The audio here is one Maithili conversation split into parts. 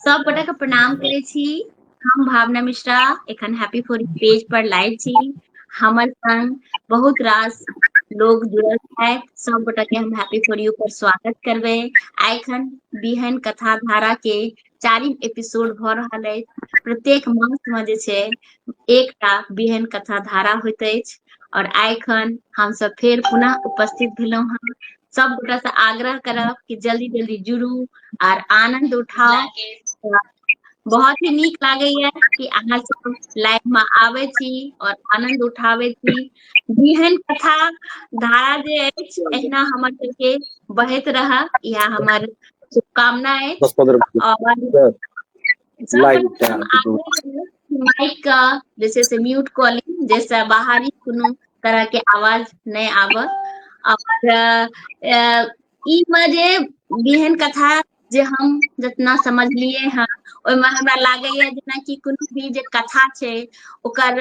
सब गोटा के प्रणाम करे छी हम भावना मिश्रा एखन हैप्पी फोर पेज पर लाइव छी हमर संग बहुत रास लोग जुड़ल है सब गोटा के हम हैप्पी फॉर यू पर स्वागत करबे आखन बिहन कथा धारा के चारिम एपिसोड भ रहा है प्रत्येक मास में जे छे एकटा बिहन कथा धारा होते और आखन हम सब फिर पुनः उपस्थित भेलो हैं सब गोटा से आग्रह करब कि जल्दी जल्दी जुड़ू आर आनंद उठाओ बहुत ही नीक लागे या कि अहाँ सब लाइव में आवे छी और आनंद उठावे छी जेहन कथा धारा जे अछि एहिना हमर सबके बहैत रह या हमर शुभकामना अछि और जे छै से म्यूट कऽ ली जाहिसँ बाहरी कोनो तरहके आवाज नहि आबऽ आओर ई मे जे बिहन कथा जे हम जितना समझलिए हँ ओहिमे हमरा लागैए जेनाकि कोनो भी जे कथा छै ओकर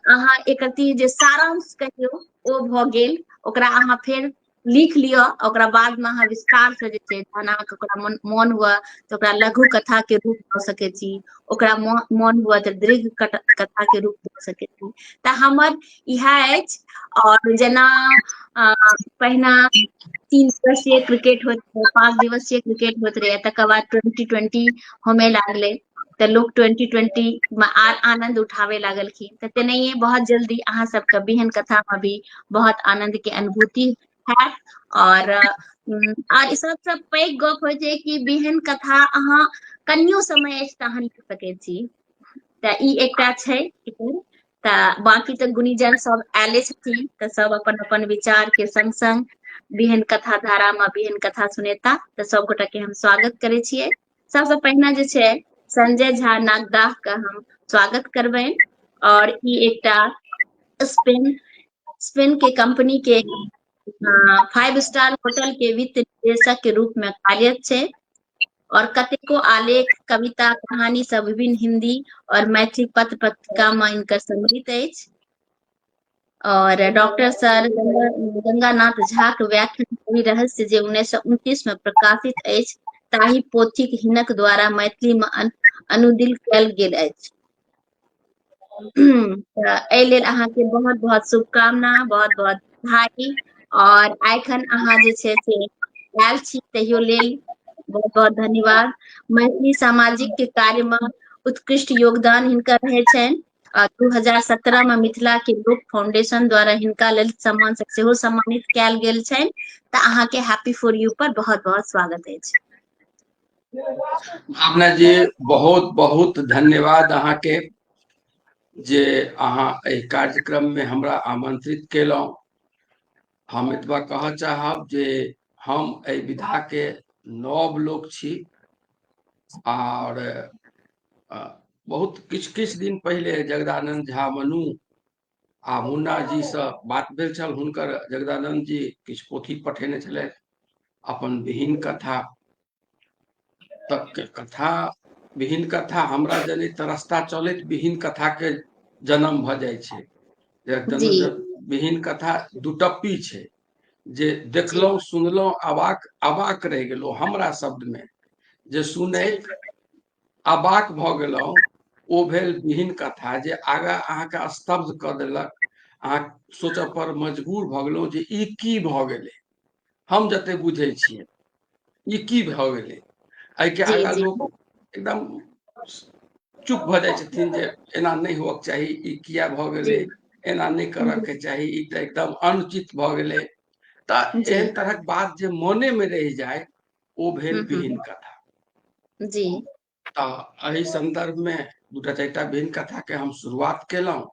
अहाँ एक जे सारांश कहियौ ओ भऽ गेल ओकरा अहाँ फेर लिख लिअ ओकरा बादमे अहाँ विस्तारसँ जे छै जहन अहाँके ओकरा मन मोन हुए तऽ ओकरा लघु कथाके रूप दऽ सकै छी ओकरा मोन हुए तऽ दीर्घ कथाके रूप दऽ सकै छी तऽ हमर इएह अछि आओर जेना पहिना तीन दिवसीय क्रिकेट होइत रहै पाँच दिवसीय क्रिकेट होइत रहै तकर बाद ट्वेंटी ट्वेंटी होमे लागलै तऽ लोक ट्वेंटी ट्वेंटी मे आर आनंद उठाबे लागलखिन तऽ तेनाहिए बहुत जल्दी अहाँ सबके बिहन कथामे भी बहुत आनंद के अनुभूति है और और सब सब पैघ गप हो छै कि बिहन कथा अहाँ कनियो समय अछि तहन लिख सकै छी तऽ ई एकटा छै तऽ बाकी तऽ गुणीजन सब आयले छथिन तऽ सब अपन अपन विचार के संग संग बिहन कथा धारा में बिहन कथा सुनेता तऽ सब गोटा के हम स्वागत करे छियै सबसँ पहिने जे छै संजय झा नागदाह के हम स्वागत करबनि और ई एकटा स्पेन स्पेन के कंपनी के फाइव स्टार होटल के वित्त निदेशक के रूप में कार्यरत छै और कतेको आलेख कविता कहानी सब विभिन्न हिंदी और मैथिली पत्र पत्रिका में इनकर सम्मिलित अछि और डॉक्टर सर गंगानाथ झा के व्याख्यान कवि रहस्य जे उन्नैस सए उनतीस में प्रकाशित अछि ताहि पोथीक हिनक द्वारा मैथिली में अनुदिल कयल गेल अछि एहि लेल अहाँके बहुत बहुत शुभकामना बहुत बहुत बधाई और एखन अहाँ जे छै से आयल छी तहियो लेल बहुत बहुत धन्यवाद मैथिली सामाजिक के कार्य में उत्कृष्ट योगदान हिनकर रहे छनि आ दू हजार सत्रह मे मिथिला के लोक फाउंडेशन द्वारा हिनका लेल सम्मान सब सेहो सम्मानित कयल गेल छनि तऽ अहाँके हैप्पी फॉर यू पर बहुत बहुत स्वागत अछि भावना जी बहुत बहुत धन्यवाद अहाँके जे अहाँ एहि कार्यक्रममे हमरा आमंत्रित केलहुँ हम एतबा कहऽ चाहब जे हम एहि विधाके नव लोक छी आओर बहुत किछु किछु दिन पहिले जगदानंद झा मनु आ मुन्ना जी से बात भेल छल हुनकर जगदानंद जी किछु पोथी पठेने छलथि अपन विहीन कथा तक कथा विहीन कथा हमरा जने तऽ रास्ता चलैत विहीन कथा के जन्म भ जाय छै विहीन कथा दुटप्पी छै जे देखलहुँ सुनलहुँ अबाक अबाक रहि गेलहुँ हमरा शब्दमे जे सुनैत अबाक भऽ गेलहुँ ओ भेल विहीन कथा जे आगाँ अहाँके स्तब्ध कऽ देलक अहाँ सोचऽ पर मजबूर भऽ गेलहुँ जे ई की भऽ गेलै हम जते बुझै छियै ई की भऽ गेलै एहिके आगा लोक एकदम चुप भऽ जाइ छथिन जे एना नहि होबक चाही ई किया भऽ गेलै एना नहि करऽके चाही ई तऽ एकदम अनुचित भऽ गेलै तऽ एहन तरहक बात जे मोने मे रहि जाय ओ भेल विहीन कथा जी तऽ एहि संदर्भ मे दूटा चारि टा भिन्न कथा के हम शुरुआत केलहुँ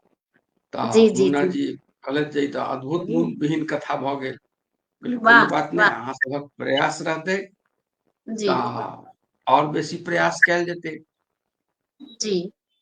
तऽ जी जी मुन्ना जी कहलथि जे ई तऽ अद्भुत जी विहीन कथा भऽ गेल कहलियै कोनो वाह बात नहि वाह अहाँ सभक प्रयास रहतै जी तऽ आओर बेसी प्रयास कयल जेतै जी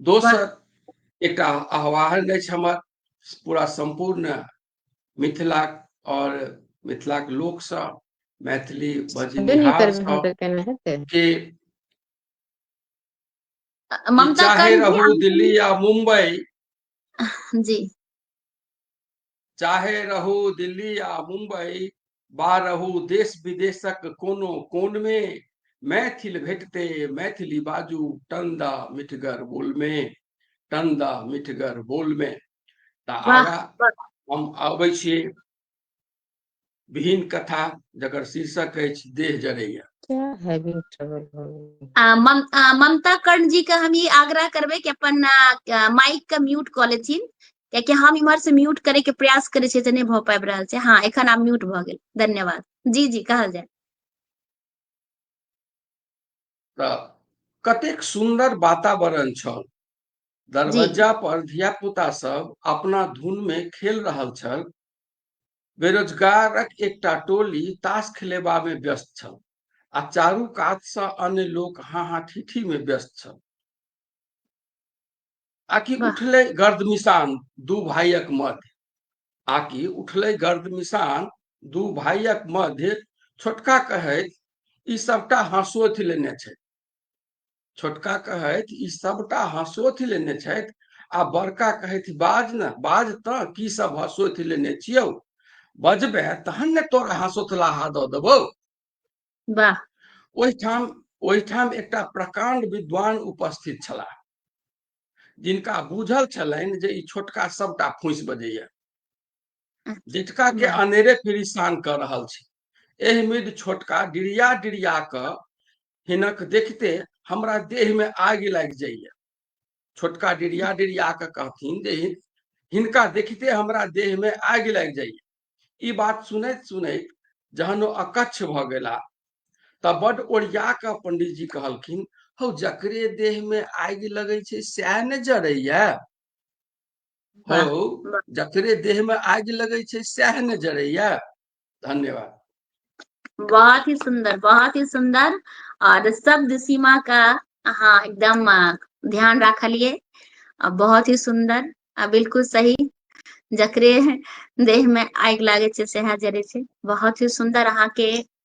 दोसर एकटा आह्वान अछि हमर पूरा सम्पूर्ण मिथिला और मिथिला के लोक से मैथिली के चाहे रहू दिल्ली या मुंबई जी चाहे रहू दिल्ली आ मुंबई बा रहू देश विदेशक कोनो कोन मे मैथिल भेटते मैथिली बाजू टंदा मिठगर बोल मे टंदा मिठगर बोल मे तऽ आगा हम अबै छी विहीन कथा जकर शीर्षक अछि देह जरैया क्या हैवी ट्रबल हो गई आ, मम, आ, ममता कर्ण जी के हम ई आग्रह करबै कि अपन आ, माइक के म्यूट कऽ लेथिन कियाकि हम इम्हर से म्यूट करे के प्रयास करे छियै तऽ नहि भऽ पाबि रहल छै हँ एखन आब म्यूट भऽ गेल धन्यवाद जी जी कहल जाय तऽ कतेक सुन्दर वातावरण छल दरवाजा पर धिया पुता सब अपना धुन में खेल रहल छल बेरोजगारक एकटा टोली ताश खेलेबामे व्यस्त छल आ चारू कातसँ अन्य लोक हाँ हाँ ठीठी में व्यस्त छल आकि उठले गर्द मिशान दू भाइयक मध्य आकि उठले गर्द मिशान दू भाइयक मध्य छोटका कहैत ई सबटा हँसोथि लेने छै छोटका कहथि ई सभटा हँसोथि लेने छथि आ बड़का कहथि बाज ने बाज तऽ की सब हँसोथि लेने छियौ बजबे तहन ने तोरा हँसोथलाहा दऽ देबौ वाह ओहिठाम ओहिठाम एकटा प्रकांड विद्वान उपस्थित छलाह जिनका बुझल छलनि जे ई छोटका सभटा फूसि बजैया डिटका के अनेरे परेशान कर रहल छी एह मिड छोटका डिरिया डिरिया क हिनक देखते हमरा देह में आग लागि जाइए छोटका डिरिया डिरिया क कहथिन जे हिन- हिनका देखते हमरा देह में आग लागि जाइए ई बात सुनैत सुनैत जहन ओ अकच्छ भ गेला त बड ओरिया क पंडित जी कहलखिन हौ जकरे देह में आग लगै छै सएह ने जरैया हौ जकरे देह में आग लगे छै सएह ने जरैया धन्यवाद बहुत ही सुंदर बहुत ही सुंदर और शब्द सीमा का हाँ एकदम ध्यान रखलिए बहुत ही सुंदर आ बिल्कुल सही जकरे देह में आग लागे से सह जरे से बहुत ही सुंदर अहा के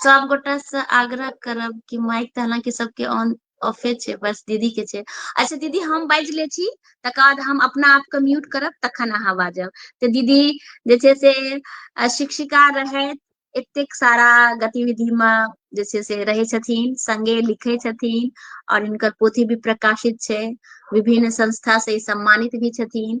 सब गोटा से आग्रह करब कि माइक तऽ हालांकि सबके ऑन ऑफे छै बस दीदी के छै अच्छा दीदी हम बाजि ले छी तकर बाद हम अपना आप के म्यूट करब तखन अहाँ बाजब तऽ दीदी जे छै से अ, शिक्षिका रहैत एतेक सारा गतिविधि मे जे छै से रहै छथिन संगे लिखै छथिन और हिनकर पोथी भी प्रकाशित छै विभिन्न संस्था से ई सम्मानित भी छथिन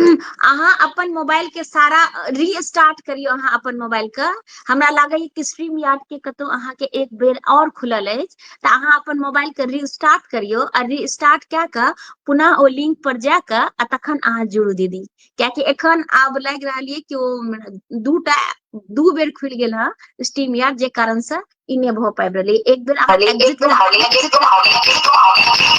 अहाँ अपन मोबाइल के सारा रीस्टार्ट करियो अहाँ अपन मोबाइल के हमरा लागैए कि स्ट्रीम यार्ड के कतौ अहाँ के एक बेर और खुलल अछि तऽ अहाँ अपन मोबाइल के रीस्टार्ट करियो आ रीस्टार्ट कए कऽ पुनः ओ लिंक पर जा कऽ आ तखन अहाँ जुड़ू दीदी कियाकि एखन आब लागि रहल ये कि ओ दूटा दू बेर खुलि गेल हँ स्टीम यार्ड जे कारण से ई नहि भऽ पाबि रहलै एक बेर अहाँ exit कऽ-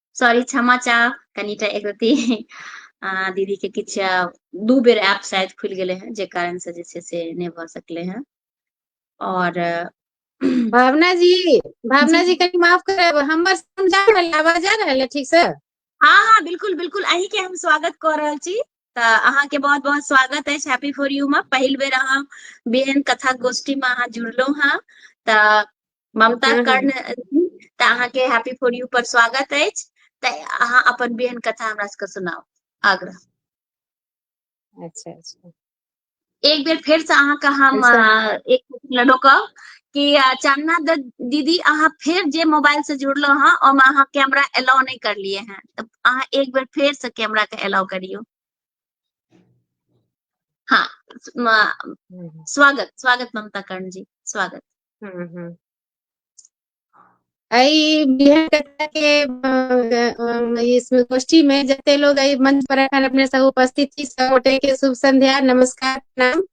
सॉरी क्षमा चाहब कनिटा एक रति दीदी के किछ दू बेर ऐप शायद खुल गए हैं जे कारण से जे छै से नहीं भ सकले हैं और भावना जी भावना जी कहीं माफ करब हमर सुन जा रहल आवाज आ रहल ठीक से हाँ हाँ बिल्कुल बिल्कुल अही के हम स्वागत कर रहल छी त अहाँ के बहुत बहुत स्वागत है हैप्पी फॉर यू में पहल बेर अहाँ बेहन कथा गोष्ठी में अहाँ जुड़लो हाँ त ममता हँ, हँ। कर्ण अथी तऽ अहाँके हैप्पी फॉर यू पर स्वागत अछि तऽ अहाँ अपन बेहन कथा हमरा सबके सुनाउ आग्रह अच्छा अच्छा एक बेर फेर से अहाँके हम अच्छा अ, एक मिनट रोकब कि अ, चानना द- दीदी अहाँ फेर जे मोबाइल से जुड़लहुँ हँ ओहिमे अहाँ कैमरा एलाउ नहि करलिए हैं तऽ अहाँ एक बेर फेर से कैमरा के एलाउ करियौ हाँ म- हम्म। स्वागत स्वागत ममता कर्ण जी स्वागत हम्म, हम्म। एहि बिहार कथा के इसमें गोष्ठी में जते लोग एहि मंच पर एखन अपने सब उपस्थित छी सब गोटे के शुभ संध्या नमस्कार प्रणाम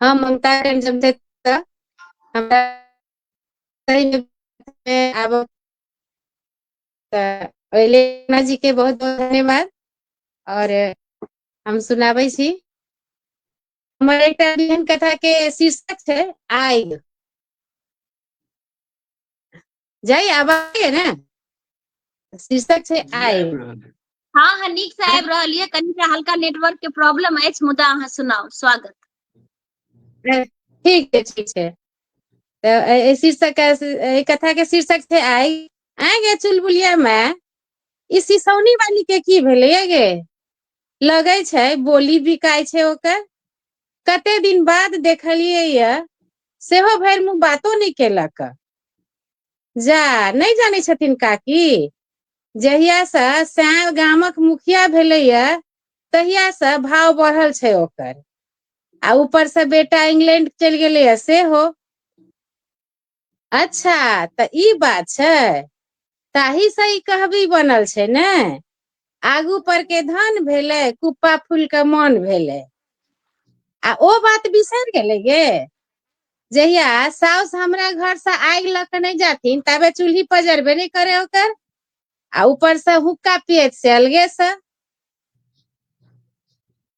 हम ममता करण जमशेद हमरा सही में में आब तऽ अहिलेना जी के बहुत बहुत धन्यवाद और हम सुनाबै छी हमर एकटा एहन कथा के शीर्षक छै आग जाइ आवाज ने शीर्षक छै आग हाँ हाँ नीक से आबि रहल ये कनी के हल्का नेटवर्क के प्रॉब्लम अछि मुदा अहाँ सुनाउ स्वागत ठीक है ठीक है तो शीर्षक कथा के शीर्षक थे आई आगे चुलबुलिया में इस सिसौनी वाली के की भेले गे लगै छै बोली बिकाय छै ओकर कते दिन बाद देखलियै य सेहो भरि मुँह बातो नहि केलक जा नहि जानै छथिन काकी जहिया से श्याम गामक मुखिया भेले या तहिया से भाव बढ़ल छै ओकर आ ऊपर से बेटा इंग्लैंड चलि गेलैए सेहो अच्छा तऽ ई बात छै ताहि से ई कहबी बनल छै ने आगू पर के धन भेलै कुप्पा फूल के मन भेलै आ ओ बात बिसरि गेलै गे जहिया साउस हमरा घर से आगि लऽ के नहि जाथिन तबे चूल्ही पजरबे नहि करे ओकर आ ऊपर से हुक्का पियत से अलगे से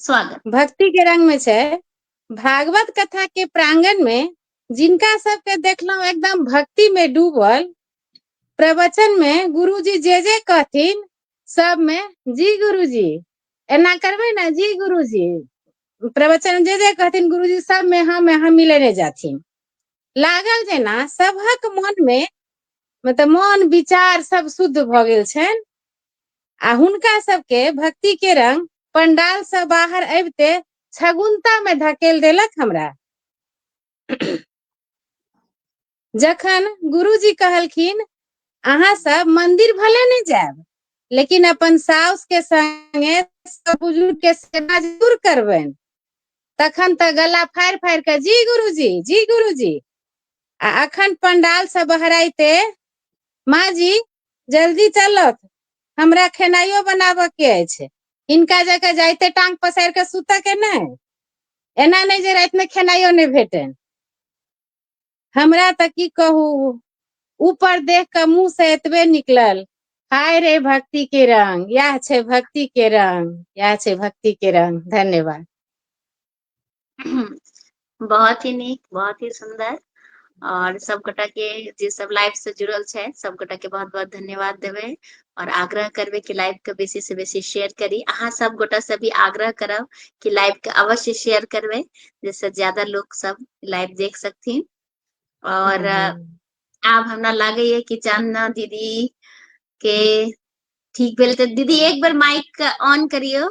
स्वागत भक्ति के रंग में छै भागवत कथा के प्रांगण में जिनका सबके देखलहुं एकदम भक्ति में डूबल प्रवचन में गुरुजी जे जे कहथिन सब में जी गुरुजी एना करबे ना जी गुरुजी प्रवचन में जे जे कहथिन गुरुजी सब में हम यहाँ मिलेने जाथिन लागल जेना सबहक मन में मतलब मन विचार सब शुद्ध भऽ गेल छनि आ हुनका सबके भक्ति के रंग पंडाल से बाहर अबिते छगुनता में धकेल देलक हमरा जखन गुरुजी कहलखिन अहाँ सब मंदिर भले नहीं जायब लेकिन अपन साउस के संगे सब बुजुर्ग के सेवा जरूर करबनि तखन तऽ गला फाड़ि फाड़ि कऽ जी गुरुजी जी गुरुजी आ अखन पंडाल से बहराइते माँ जी जल्दी चलत हमरा खेनाइयो बनाबऽ के अछि हिनका जकाँ जाइते टांग पसारि कऽ सुतऽ के नहि एना नहि जे रातिमे खेनाइयो नहि भेटनि हमरा तऽ की कहू ऊपर देख कऽ मुंह से एतबे निकलल हाय रे भक्ति के रंग इएह छै भक्ति के रंग इएह छै भक्ति के रंग धन्यवाद बहुत ही नीक बहुत ही सुन्दर और सब गोटा के जे सब लाइव से जुड़ल छै सब गोटा के बहुत बहुत धन्यवाद देवे और आग्रह करबे कि लाइव के बेसी से बेसी शेयर करी अहाँ सब गोटा से भी आग्रह करब कि लाइव के अवश्य शेयर करबे जैसे ज्यादा लोग सब लाइव देख सकथिन और आब हमरा लागे ये कि चांदना दीदी के ठीक भेल तऽ दीदी एक बेर माइक ऑन करियो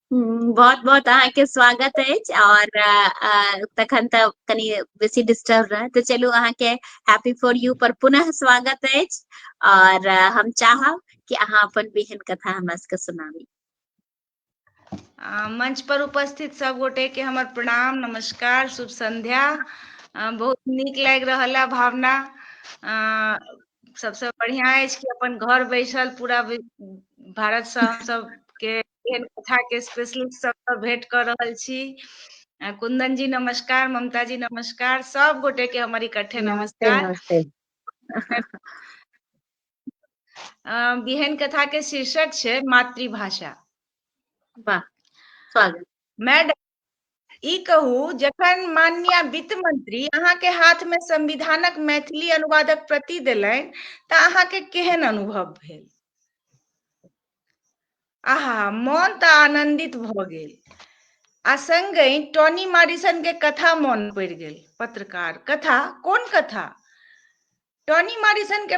हूँ बहुत बहुत अहाँके स्वागत अछि आओर अ, तखन तऽ कनि बेसी डिस्टर्ब रहत तऽ चलू अहाँके हैप्पी फॉर यू पर पुनः स्वागत अछि आओर अ, हम चाहब कि अहाँ अपन बिहन कथा हमरा सबके सुनाबी आ, मंच पर उपस्थित सब गोटे के हमर प्रणाम नमस्कार शुभ संध्या आ, बहुत नीक लागि रहल है भावना आ, सबसे बढ़िया अछि कि अपन घर बैसल पूरा वि- भारत से हम सब के एहन कथा के स्पेशलिस्ट सब भेंट कर रहल छी कुंदन जी नमस्कार ममता जी नमस्कार सब गोटे के हमारी इकट्ठे नमस्कार बिहन कथा के शीर्षक छे मातृभाषा वाह स्वागत मैडम ई कहू जखन माननीय वित्त मंत्री अहाँके हाथमे संविधानक मैथिली अनुवादक प्रति देलनि तऽ अहाँके केहन अनुभव भेल आहा मन तऽ आनंदित भऽ गेल आ संगहि टॉनी मारिसन के कथा मन पड़ि गेल पत्रकार कथा कोन कथा टॉनी मॉरिसन के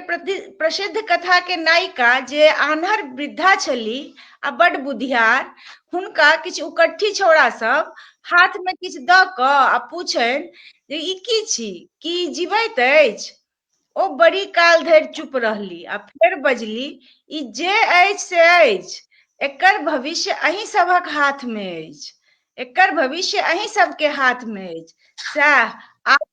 प्रसिद्ध कथा के नायिका जे आन्हर वृद्धा छली आ बड बुधियार हुनका किछु उकट्ठी छौड़ा सब हाथ में किछु द क आ पूछन जे ई की छी की जीवैत अछि ओ बड़ी काल धरि चुप रहली आ फेर बजली ई जे अछि से अछि एकर भविष्य अहीं सभक हाथ में अछि एकर भविष्य अहीं सबके हाथ में अछि सएह आब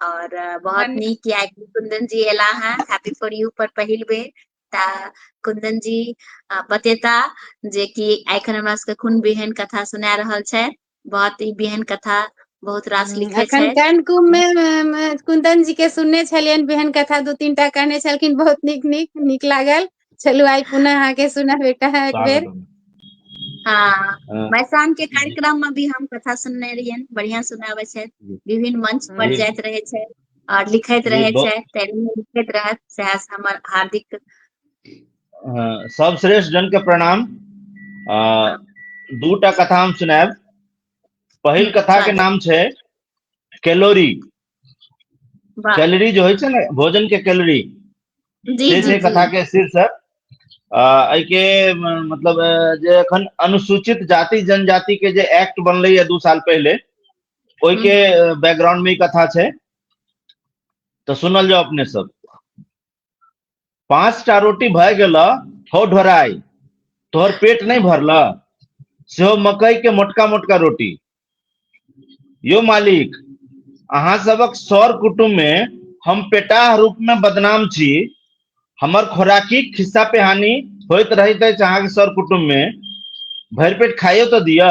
और बहुत नीक या कि कुंदन जी एला हैं हैप्पी फॉर यू पर पहिल बे ता कुंदन जी बतेता जे कि एखन हमरा सबके कोन बिहन कथा सुना रहल छै बहुत ही बिहन कथा बहुत रास हम्म, लिखे छै कन कुम में कुंदन जी के सुनने छलियन बिहन कथा दो तीन टा कहने छलखिन बहुत नीक नीक नीक लागल चलू आइ पुनः अहाँके सुनऽ भेट एक बेर स्वागतम हँ हँ, मैसान के जी कार्यक्रम मे भी हम कथा सुनने रहियनि बढ़िया सुनाबै छै जी विभिन्न मंच पर जी जाइत रहै छै और लिखैत जी रहै बहु- छै तैयो लिखैत रहत सएह हमर हार्दिक अ, सर्वश्रेष्ठ जन के प्रणाम अ, दूटा कथा हम सुनायब पहिल कथा के स्वागत नाम छै कैलोरी कैलोरी जो होइ छै ने भोजन के कैलोरी से छै कथा के शीर्षक एहिके मतलब जे एखन अनुसूचित जाति जनजाति के जे एक्ट बनले है दू साल पहले ओहि के बैकग्राउंड में कथा छै तो सुनल जाओ अपने सब पांच टा रोटी भय गेल हो ढोराई तोहर पेट नहीं भरल से हो मकई के मोटका मोटका रोटी यो मालिक अहा सबक सौर कुटुंब में हम पेटाह रूप में बदनाम छी हमर खोराकी खिस्सा पे हानि होत रही थे चाह के सौर कुटुंब में भर पेट खाइयो तो दिया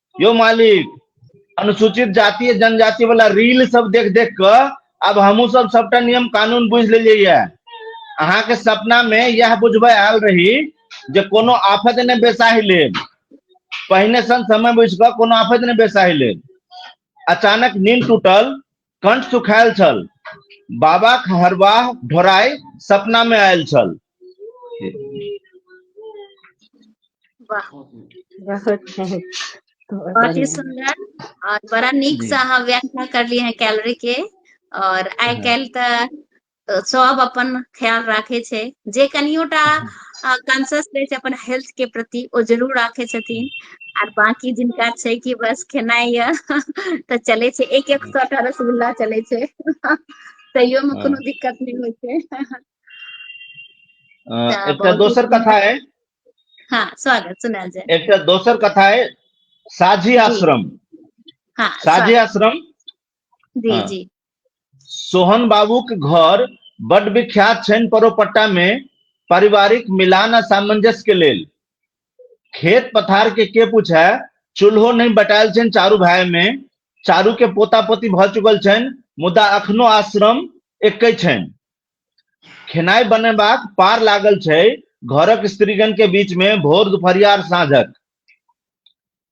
यो मालिक अनुसूचित जातीय जनजाति वाला रील सब देख देख क अब हमू सब सबटा नियम कानून बुझ लेलिए ये अहा के सपना में यह बुझब आयल रही जे कोनो आफत ने बेसाहि ले पहिने सन समय बुझ क कोनो आफत ने बेसाहि ले अचानक नींद टूटल कंठ सुखायल छल बाबा हरवाह ढोराय सपना में आयल छल वाह बहुत बहुत बहुत ही बढ़िया। सुंदर और बड़ा नीक जी। से अहाँ व्याख्या कर लिए हैं कैलोरी के और आइ जी। काल्हि तऽ सब अपन ख्याल राखे छै जे कनियोटा कॉन्सियस रहै छै अपन हेल्थ के प्रति ओ जरूर राखे छथिन आर बाकी जिनका छै कि बस खेनाइ य तऽ चले छै एक एक सौ टा रसगुल्ला चले छै तैयो में कोनो दिक्कत नहीं होइ छै एकटा दोसर कथा है हाँ स्वागत सुना जाए एकटा दोसर कथा है साझी आश्रम हाँ साझी आश्रम जी जी सोहन बाबूक घर बड विख्यात छनि परोपट्टा मे पारिवारिक मिलान आ सामंजस्य के लेल खेत पथार के के पूछे चूल्हो नहि बटायल छनि चारू भाय मे चारू के पोता पोती भऽ चुकल छनि मुदा अखनो आश्रम एकै छनि खेनाइ बनेबाक पार लागल छै घरक स्त्रीगण के बीच में भोर दुपहरिया साँझक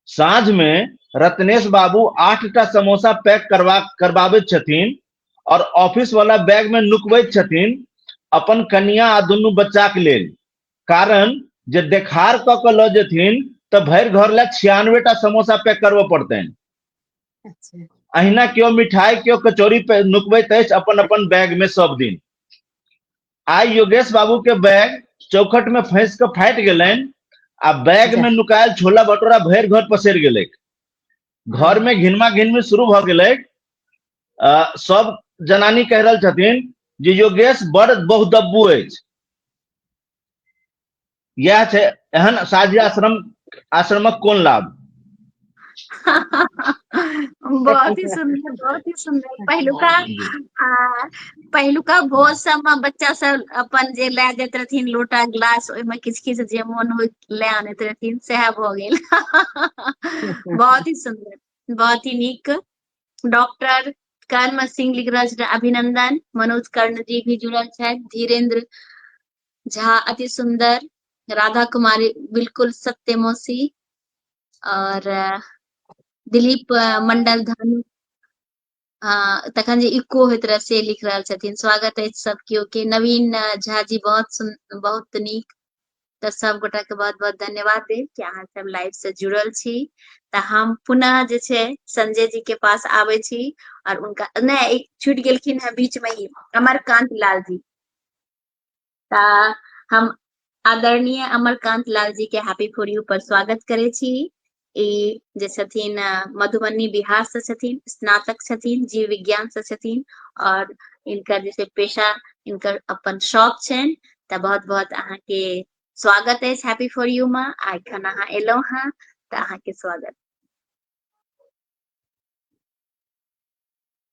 साँझ में रत्नेश बाबू आठ टा समोसा पैक करवा करवाबे छथिन और ऑफिस वाला बैग में नुकबे छथिन अपन कन्या आ दुनू बच्चा के लेल कारण जे देखार क के ल जेथिन तऽ भरि घर ला छियानवे टा समोसा पैक करबो पड़तनि अच्छा अहिना केओ मिठाई केओ कचौड़ी पे नुकबैत अछि अपन अपन बैग में सब दिन आइ योगेश बाबू के बैग चौखट में फंस के फाटि गेलनि आ बैग जा। में नुकायल छोला भटूरा भरि घर पसरि गेलै घर में घिनमा घिनमी शुरू भऽ गेलै अ, सब जनानी कहि रहल छथिन जे योगेश बड़ बहुदब्बू अछि इएह छै एहन साझी आश्रम आश्रमक कोन लाभ बहुत ही सुंदर बहुत ही सुंदर पहिलुका आ, पहिलुका भोज सब में बच्चा सब अपन जे ले जाइत रहथिन लोटा गिलास ओहि में किछ किछ जे मोन हो ले आनैत रहथिन सएह भऽ गेल बहुत ही सुंदर बहुत ही नीक डॉक्टर कर्ण सिंह लिखराज अभिनंदन मनोज कर्ण जी भी जुड़ल छथि धीरेन्द्र झा अति सुंदर राधा कुमारी बिल्कुल सत्य मौसी और दिलीप मंडल धनु तखन जे इको होइत रहे से लिख रहल छथिन स्वागत अछि सब केओ के नवीन झा जी बहुत सुन बहुत नीक तऽ सब गोटा के बहुत बहुत धन्यवाद देव कि अहाँ सब लाइव से जुड़ल छी तऽ हम पुनः जे छै संजय जी के पास आबै छी और उनका नहि छूट गेलखिन है बीच में ही अमरकांत लाल जी हम आदरणीय अमरकांत लाल जी के हैप्पी फॉर यू पर स्वागत करे छी ई जे छथिन मधुबनी बिहार से छथिन स्नातक छथिन जीव विज्ञान से छथिन और इनकर जैसे पेशा इनकर अपन शौक छनि तऽ बहुत बहुत अहाँ के स्वागत है हैप्पी फॉर यू माँ आ एखन अहाँ एलहुँ हेँ तऽ अहाँ के स्वागत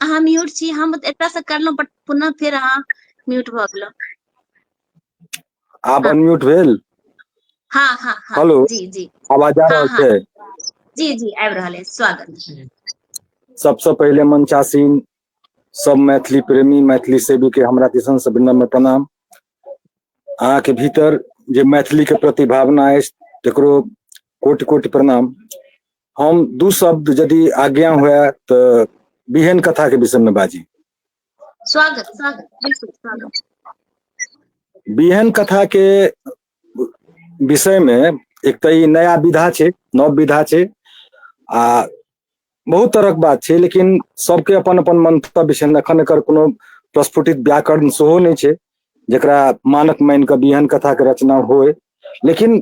अहाँ म्यूट छी हम एतय से करलहुँ बट पुनः फेर अहाँ म्यूट भऽ गेलहुँ आब अनम्यूट भेल हाँ हाँ हाँ हेलो जी जी आवाज आ रहल छै जी जी आबि रहल अछि स्वागत सबसँ पहिले मंचासीन सब मैथिली प्रेमी मैथिली सेवी के हमरा दिसन से विनम्र प्रणाम अहाँ के भीतर जे मैथिली के प्रति भावना अछि तकरो कोटि कोटि प्रणाम हम दू शब्द यदि आज्ञा हुए तो बिहन कथा के विषय में बाजी स्वागत स्वागत बिहन कथा के विषय में एक तो नया विधा छे नव विधा छे आ बहुत तरह के बात छे लेकिन सबके अपन अपन मंतव्य छे अखन एकर कोनो प्रस्फुटित व्याकरण सेहो नहीं छे जकरा मानक मानि कऽ बिहन कथाके रचना होय लेकिन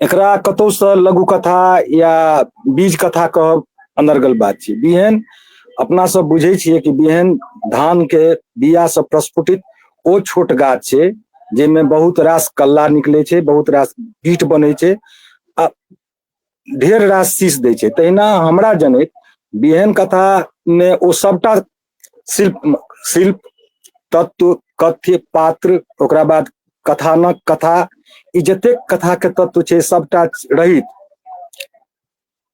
एकरा कतहुसँ लघु कथा या बीज कथा कहब अनर्गल बात छै बिहन अपना सब बुझै छियै कि बिहन धान के बिया से प्रस्फुटित ओ छोट गाछ छै जाहिमे बहुत रास कल्ला निकलै छै बहुत रास बीट बनै छै आ ढेर रास शीश दै छै तहिना हमरा जनैत बिहन कथा मे ओ सबटा शिल्प शिल्प तत्व कथ्य पात्र ओकरा बाद कथानक कथा ई जतेक कथा के तत्व छै सबटा रहित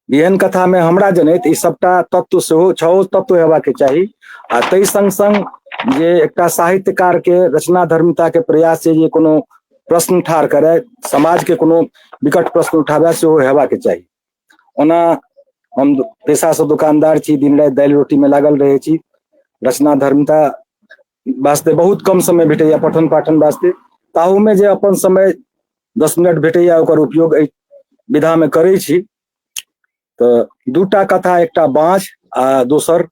बिहन कथा मे हमरा जनैत ई सबटा तत्व सेहो छओ तत्व हेबाक चाही आ ताहि संग संग जे एकटा साहित्यकार के रचना धर्मिता के प्रयास छै जे कोनो प्रश्न ठाढ़ करय समाजके कोनो विकट प्रश्न उठाबय सेहो हेबाक चाही ओना हम पेशासँ दोकानदार छी दिन राति दालि रोटीमे लागल रहै छी रचना धर्मता वास्ते बहुत कम समय भेटैया पठन पाठन वास्ते ताहूमे जे अपन समय दस मिनट भेटैया ओकर उपयोग एहि विधामे करै छी तऽ दूटा कथा एकटा बाँझ आ दोसर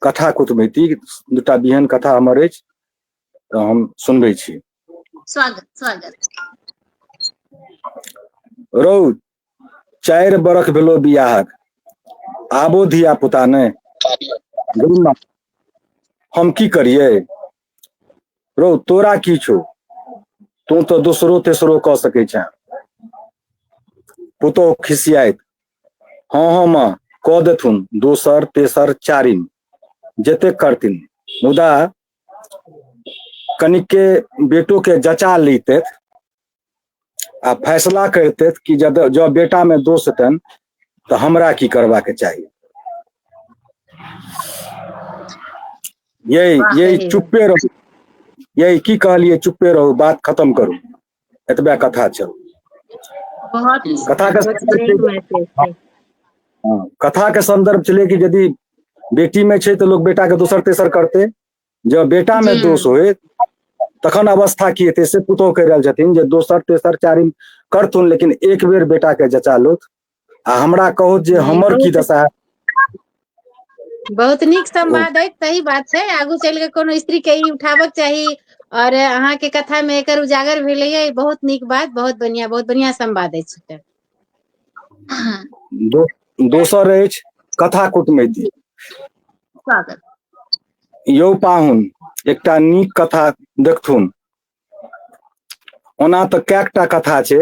कथा कुटमैती दूटा बिहन कथा हमर अछि तऽ हम सुनबै छी स्वागत स्वागत रौ चारि बरख भेलो बियाहक आबो धिया पुता ने हम की करिए रौ तोरा की छो तू तो दोसरो तेसरो क सके छ पुतोह खिसियात हँ हँ माँ क देथुन दोसर तेसर चारिम जते करथिन मुदा कनिके बेटोके जचा लैतथि आ फैसला करितथि कि जब जँ बेटामे दोष हेतनि तऽ हमरा की करबाक चाही यही यही चुप्पे रहू यही की कहलिए चुप्पे रहू बात खत्म करू एतबे कथा छल कथा के संदर्भ छलै कि यदि बेटी में छै तऽ लोक बेटा के दोसर तेसर करते जब बेटा में दोष हो तखन अवस्था की हेतै से पुतोह कहि रहल छथिन जे दोसर तेसर चारिम करथुन लेकिन एक बेर बेटा के जचा लोथ आ हमरा कहू जे नहि, हमर की बहुत- दशा हैत बहुत नीक संवाद अछि सही बात छै आगू चलि कऽ कोनो स्त्री के ई उठाबक चाही और अहाँ के कथा में एकर उजागर भेलैया ई बहुत नीक बात बहुत बढ़िया बहुत बढ़िया संवाद अछि एकर। हाँ, दो, दोसर अछि कथा कुटमैती स्वागत यौ पाहुन एकटा नीक कथा देखथुन ओना तऽ कैकटा कथा छै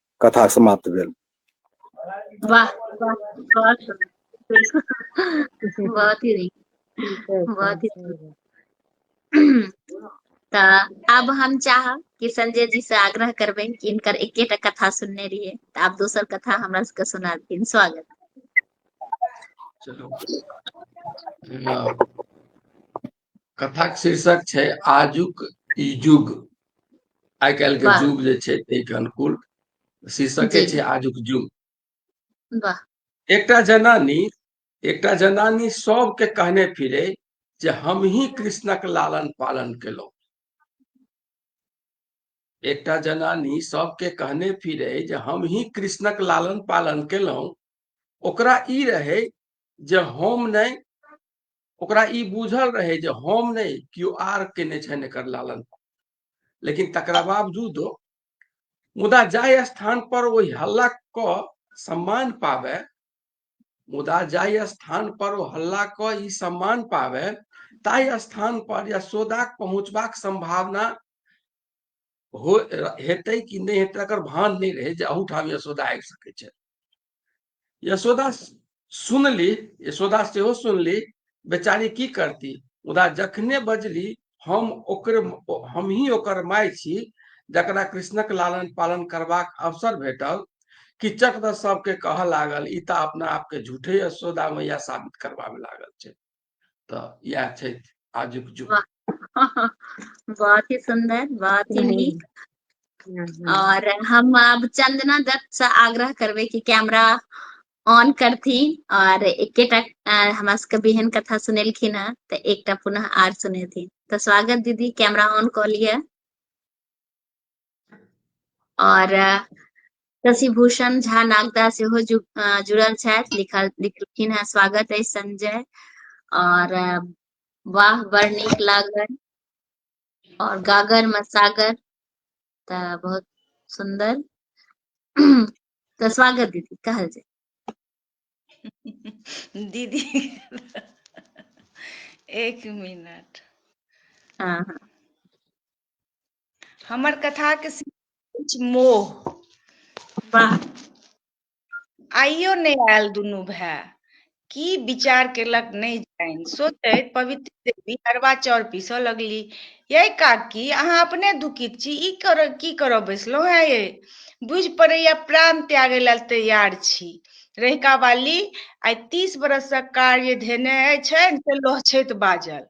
कथा समाप्त भेल वाह बहुत बहुत ही बहुत ही तऽ आब हम चाहब कि संजय जी से आग्रह करबे कि इनकर एकेटा कथा सुनने रहिए तऽ आब दोसर कथा हमरा सबके सुना दिन स्वागत चलो कथाक शीर्षक छै आजुक ई युग आइ काल्हि के युग जे छै ताहिके अनुकूल शीर्षके छै आजुक युग एकटा जनानी एकटा जनानी सबके कहने फिरे जे हम ही कृष्णक लालन पालन केलहुँ एकटा जनानी सबके कहने फिरे जे हम ही कृष्णक लालन पालन केलहुँ ओकरा ई रहे जे हम नहीं ओकरा ई बुझल रहे जे हम नहीं क्यों आर के ने छन एकर लालन लेकिन तकरा बावजूद मुदा जाय स्थान पर वही हल्ला क सम्मान पावे मुदा जाय स्थान पर वो हल्ला क ई सम्मान पावे ताय स्थान पर या सोदाक पहुंचबाक संभावना हो हेतै कि नहि हेतै एकर भान नहि रहै जे अहूठाम यशोदा आबि सकै छै यशोदा सुनली यशोदा सेहो सुनली बेचारी की करती मुदा जखने बजली हम ओकर हम ही ओकर माय छी जकरा कृष्णक लालन पालन करबाक अवसर भेटल किचक दस सबके कह लागल ई तऽ अपना आपके झूठे यशोदा मैया साबित करबाबे लागल छै तऽ इएह छथि आजुक जुग बहुत ही सुंदर बहुत ही नीक और हम अब चंदना दत्त से आग्रह करबे कि कैमरा ऑन करथिन और एकेटा अ, हमरा सबके बेहन कथा सुनेलखिन हँ तऽ एकटा पुनः आर सुनेथिन तऽ स्वागत दीदी कैमरा ऑन कऽ लिअ और शशिभूषण झा नागदा से हो जुड़ल छथि लिखल लिखलखिन है स्वागत है संजय और वाह बड़ निक लागल और गागर में सागर त बहुत सुंदर तो स्वागत दीदी कहल जाए दीदी एक मिनट हाँ हाँ हमर कथा के मोह वाह आइयो नहि आयल दुनू भाय की विचार केलक नहि जानि सोचैत पवित्र देवी अरबा चाउर पीसऽ लगली ये काकी अहाँ अपने दुखित छी ई कर की करऽ बैसलहुँ है ये बुझि पड़ैया प्राण त्यागे लेल तैयार छी रहिका वाली आइ तीस बरसक कार्य धेने छनि से लोहछैत बाजल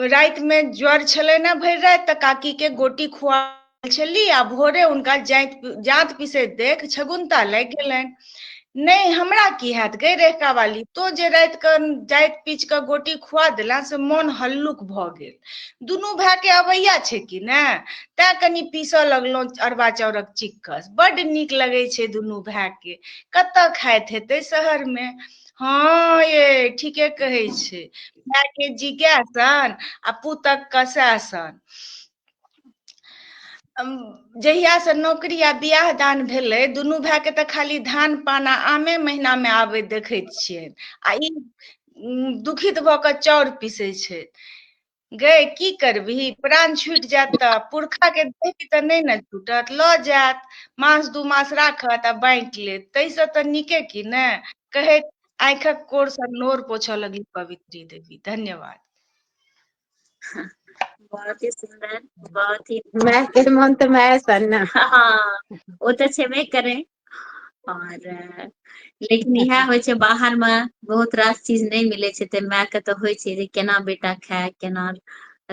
रातिमे ज्वर छलै ने भरि राति तऽ काकीके गोटी खुआ छली आ भोरे हुनका जाइत जात पिसैत देख छगुन्ता लागि गेलनि नहि हमरा की हैत गई रेखा वाली तो जे रात के जाइत पीच के गोटी खुआ दिला से मन हल्लुक भ गेल दुनू भाई के अबैया छै कि ने तैं कनि पीसऽ लगलहुँ अरबा चाउरक चिक्कस बड नीक लगै छै दुनू भाई के कतऽ खाइत हेतै शहर में हँ ये ठीके कहै छै माय के जिज्ञासन आ पुतक कसासन जहिया से नौकरी आ बियाह दान भेलै दुनू भाय के तऽ खाली धान पान आ आमे महीना मे आबे देखैत छियनि आ ई दुखित भऽ कऽ चाउर पीसै छथि गए की करबही प्राण छूटि जायत तऽ पुरखा के देही तऽ नहि ने छूटत लऽ जायत मास दू मास राखत आ बाँटि लेत ताहिसँ तऽ नीके की ने कहैत आँखिक कोर सँ नोर पोछऽ लगली पवित्री देवी धन्यवाद बहुत ही सुंदर बहुत ही माय के मन तऽ माय सन ने हाँ ओ तऽ छेबे करे और लेकिन इएह होइ छै बाहर मे बहुत रास चीज नहि मिलै छै तऽ माय के तऽ होइ छै जे केना बेटा खाय केना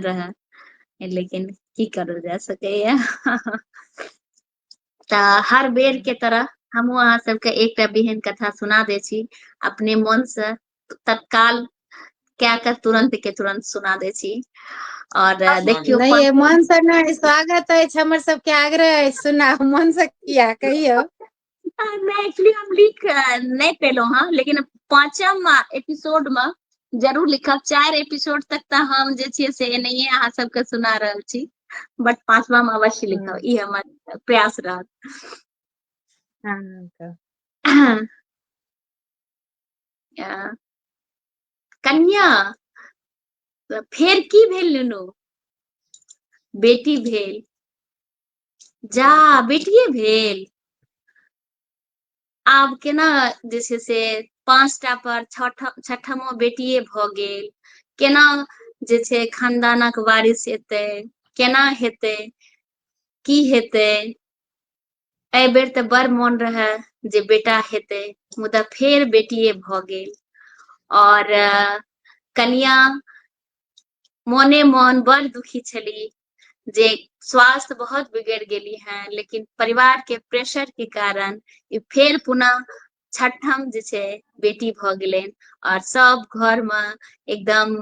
रहय लेकिन की करल जा सकैया तऽ हर बेर के तरह हमहूँ अहाँ सबके एकटा बिहन कथा सुना दै छी अपने मन से तत्काल क्या कर तुरंत के तुरंत सुना दे छी और देखियो नहीं मन से नहीं स्वागत है हमर सब के आग्रह है सुना मन से किया कहियो मैं एक्चुअली हम लिख नहीं पेलो हां लेकिन पांचम एपिसोड में जरूर लिखब चार एपिसोड तक त हम जे छी से नहीं है अहां सब के सुना रहल छी बट पांचवा में अवश्य लिखब हम्म। ई हमर प्रयास रहत हां कन्या तऽ फेर की भेल नुनू बेटी भेल जा बेटिए भेल आब केना जे छै से पाँचटा पर छठमो बेटिए भऽ गेल केना जे छै खानदानक वारिस एतै केना हेतै की हेतै एहि बेर तऽ बड़ मोन रहए जे बेटा हेतै मुदा फेर बेटिए भऽ गेल और कनिया मोने मोन बड़ दुखी छली जे स्वास्थ्य बहुत बिगड़ गेली हैं लेकिन परिवार के प्रेशर के कारण ई फेर पुनः छठम जे छै बेटी भऽ गेलनि और सब घर मे एकदम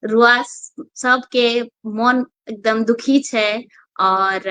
रुआ सबके मोन एकदम दुखी छै और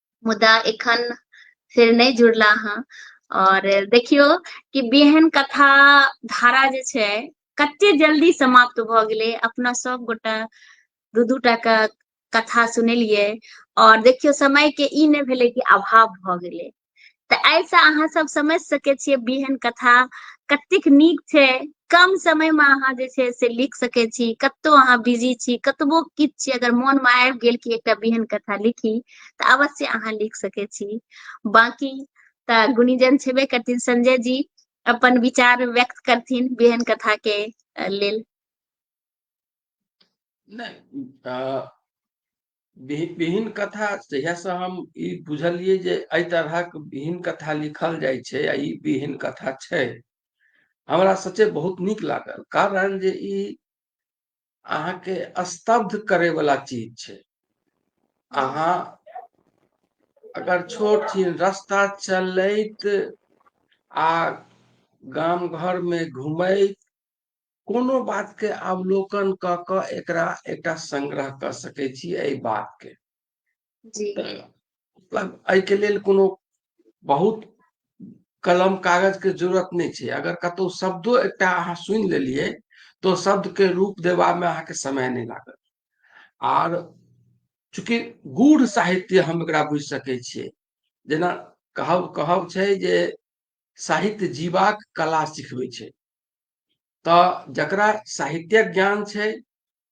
मुदा एखन फेर नहि जुड़ला हँ और देखियो कि बेहन कथा धारा जे छै कते जल्दी समाप्त भ गेले अपना सब गोटा दू दू टा के कथा सुनलिए और देखियो समय के ई ने भेले कि अभाव भ गेले तऽ एहिसँ अहाँ सब समझ सकै छियै बिहन कथा कतेक नीक छै कम समय में अहाँ जे छै से लिख सके छी कतौ अहाँ बिजी छी कतबो किछु छी अगर मोन में आबि गेल कि एकटा बिहन कथा लिखी तऽ अवश्य अहाँ लिख सके छी बाकी तऽ गुणीजन छेबे करथिन संजय जी अपन विचार व्यक्त करथिन बिहन कथा के लेल नहीं विहीन कथा जहियासँ हम ई बुझलियै जे एहि तरहक विहीन कथा लिखल जाइ छै आ ई विहीन कथा छै हमरा सचे बहुत नीक लागल कारण जे ई अहाँके स्तब्ध करे वाला चीज छै अहाँ अगर छोट छीन रास्ता चलैत आ गाम घर में घूमैत कोनो बातके अवलोकन कऽ कऽ एकरा एकटा संग्रह कऽ सकै छी एहि बातके जी मतलब एहिके लेल कोनो बहुत कलम कागजके जरूरत नहि छै अगर कतहु शब्दो एकटा अहाँ सुनि लेलियै तऽ ओ शब्दके रूप देबामे अहाँके समय नहि लागत आर चूँकि गूढ़ साहित्य हम एकरा बुझि सकै छियै जेना कहब कहब छै जे साहित्य जीवाक कला सिखबै छै तऽ जकरा साहित्यक ज्ञान छै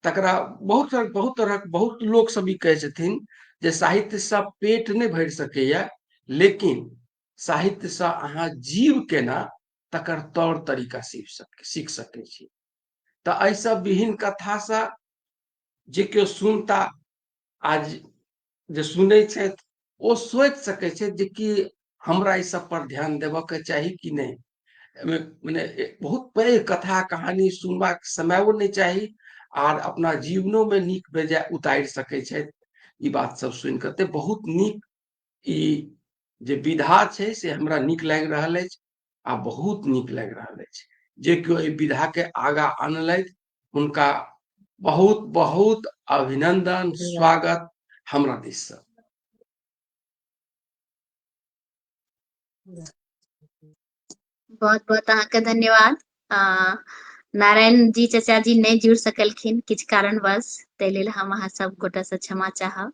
तकरा बहुत तरह बहुत तरहक बहुत लोक सब ई कहै छथिन जे साहित्य से पेट नहि भरि सकैए लेकिन साहित्य से अहाँ जीव केना तकर तौर तरीका सीख सक सीख सकै छी तऽ एहिसँ विहीन कथासँ जे केओ सुनता आज जे सुनै छथि ओ सोचि सकै छथि जे कि हमरा ई सब पर ध्यान देबऽ के चाही कि नहि एहिमे मने बहुत पैघ कथा कहानी सुनबाक समयो नहि चाही आर अपना जीवनो मे नीक बेजाय उतारि सकै छथि ई बात सब सुनि कऽ ते बहुत नीक ई जे विधा छै से हमरा नीक लागि रहल अछि आ बहुत नीक लागि रहल अछि जे केओ एहि विधा के आगा आनलथि उनका बहुत बहुत अभिनंदन स्वागत हमरा दिस से बहुत बहुत अहाँ के धन्यवाद आ, नारायण जी चाचा जी नहीं जुड़ सकलखिन किछु कारणवश ताहि लेल हम अहाँ सब गोटा से क्षमा चाहब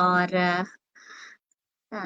और आ,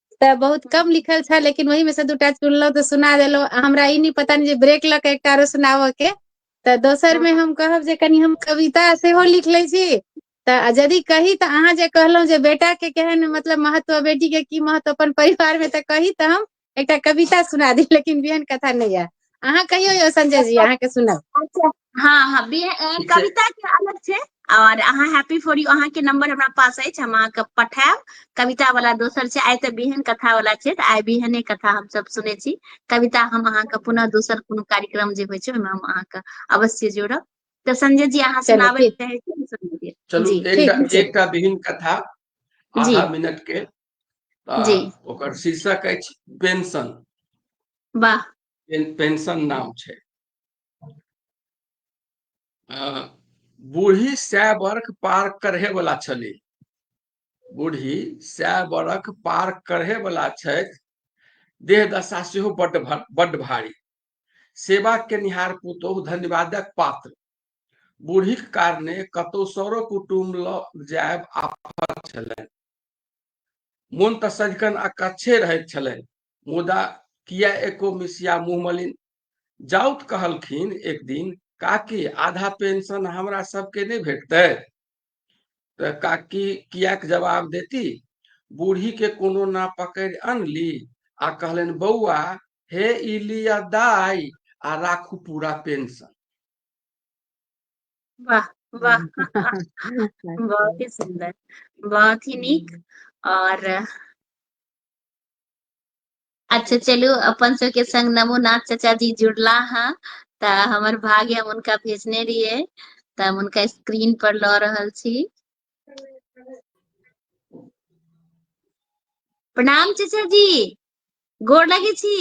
तऽ बहुत कम लिखल छै लेकिन ओहि मे से दूटा चुनलहुं तऽ सुना देलहुँ हमरा ई नहि पता जे ब्रेक लऽ के एकटाआरो सुनाबऽ के तऽ दोसर मे हम कहब जे कनि हम कविता सेहो लिख लै छी तऽ यदि कही तऽ अहाँ जे कहलहुँ जे बेटा के केहन मतलब महत्व बेटी के की महत्व तऽ अपन परिवार मे तऽ कही तऽ हम एकटा कविता सुना दी लेकिन बियन कथा नहि यएह अहाँ कहियौ यौ संजय जी अहाँके सुनब अच्छा हँ हँ बी ए ठीक छै कविता के अलग छै और अहाँ हैप्पी फॉर यू अहाँ के नंबर हमरा पास अछि हम अहाँ के पठायब कविता वाला दोसर छै आइ तऽ बिहन कथा वाला छै तऽ आइ बिहने कथा हम सब सुनै छी कविता हम अहाँ के पुनः दोसर कोनो कार्यक्रम जे होइ छै ओहिमे हम अहाँ के अवश्य जोड़ब तऽ संजय जी अहाँ चलू सुनाबै ठीक चाहै छी सुना दिअ चलू जी एकटा ठीक छै एकटा विहीन कथा जी आधा मिनट के तऽ जी ओकर शीर्षक अछि पेंशन वाह पेन- पेंशन नाम छै बूढ़ी सै वर्ष पार करहे वाला छली बूढ़ी सै वर्ष पार करहे वाला छथि देह दशा से बड बड भारी सेवा के निहार पुतोह धन्यवादक पात्र बूढ़ी के कारणे कतौ सौरो कुटुम ल जायब आफत छलनि मोन तऽ सदिखन अकच्छे रहैत छलनि मुदा किया एको मिसिया मुँह मलिन जाउत कहलखिन एक दिन काकी आधा पेंशन हमरा सबके नहि भेटतै तऽ काकी किएक जवाब देती बूढ़ी के कोनो ना पकड़ि अनली आ कहलनि बौआ हे ई लिअ दाइ आ राखू पूरा पेंशन वाह वाह बहुत ही सुंदर बहुत ही नीक और अच्छा चलू अपन सबके संग नमो नाथ चाचा जी जुड़ला हँ तऽ हमर भाग्य हम हुनका भेजने रहियै तऽ हम हुनका स्क्रीन पर लऽ रहल छी प्रणाम चाचा जी गोर लगे छी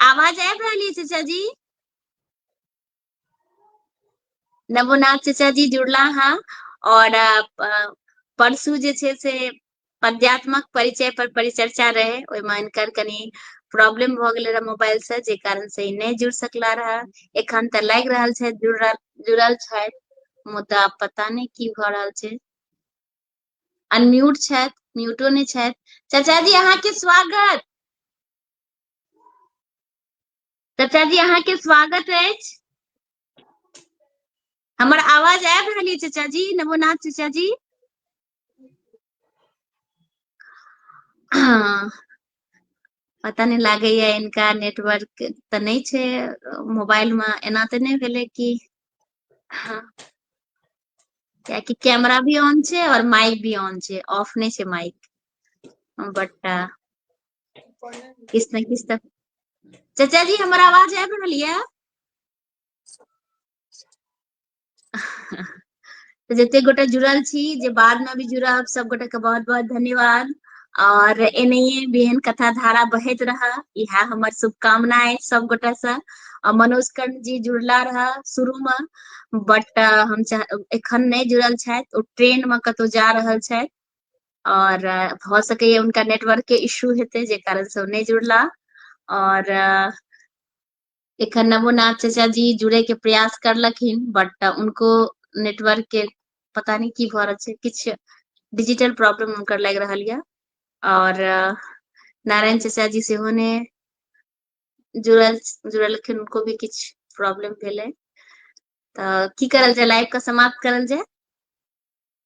आवाज आबि रहल अछि चाचा जी नवोनाथ चचा जी जुड़ला हाँ और परसू जे छै से पद्यात्मक परिचय पर परिचर्चा रहे ओहिमे इनकर कनि प्रॉब्लम भऽ गेल रहे मोबाइल से जे कारण से ई नहि जुड़ सकला रहे एखन तऽ लागि रहल छै जुड़ जुड़ल छै मुदा पता नहि की भऽ रहल छै अनम्यूट छथि म्यूटो नहि छथि चाचा जी अहाँके स्वागत चचा जी अहाँ के स्वागत अछि हमर आवाज आबि रहल अछि चचा जी नमोनाथ चचा जी हाँ, पता नहि लागैया इनका नेटवर्क तऽ नहि छै मोबाइल मे एना तऽ नहि भेलै कि हाँ, कियाकि कैमरा भी ऑन छै और माइक भी ऑन छै ऑफ नहि छै माइक बट किस ने किस तक चाचा जी हमारा आवाज है बना लिया तो जते गोटा जुड़ल छी जे बाद में भी जुड़ब सब गोटा के बहुत बहुत धन्यवाद और एनहिए बिहन कथा धारा बहत रहा यह हमर शुभकामना है सब गोटा से और मनोज कर्ण जी जुड़ला रहा शुरू में बट हम एखन नहीं जुड़ल छथि ओ ट्रेन में कतौ जा रहल छथि और भ सकैया उनका नेटवर्क के इशू हेतै जे कारण से नहीं जुड़ला और एखन नवोनाथ चाचा जी जुड़े के प्रयास करलखिन बट उनको नेटवर्क के पता नहीं की भऽ रहल छै किछ डिजिटल प्रॉब्लम उनकर लागि रहल यऽ और नारायण चाचा जी सेहो ने जुड़ल जुड़लखिन उनको भी किछ प्रॉब्लम भेलै तऽ की करल जाय लाइव के समाप्त करल जाय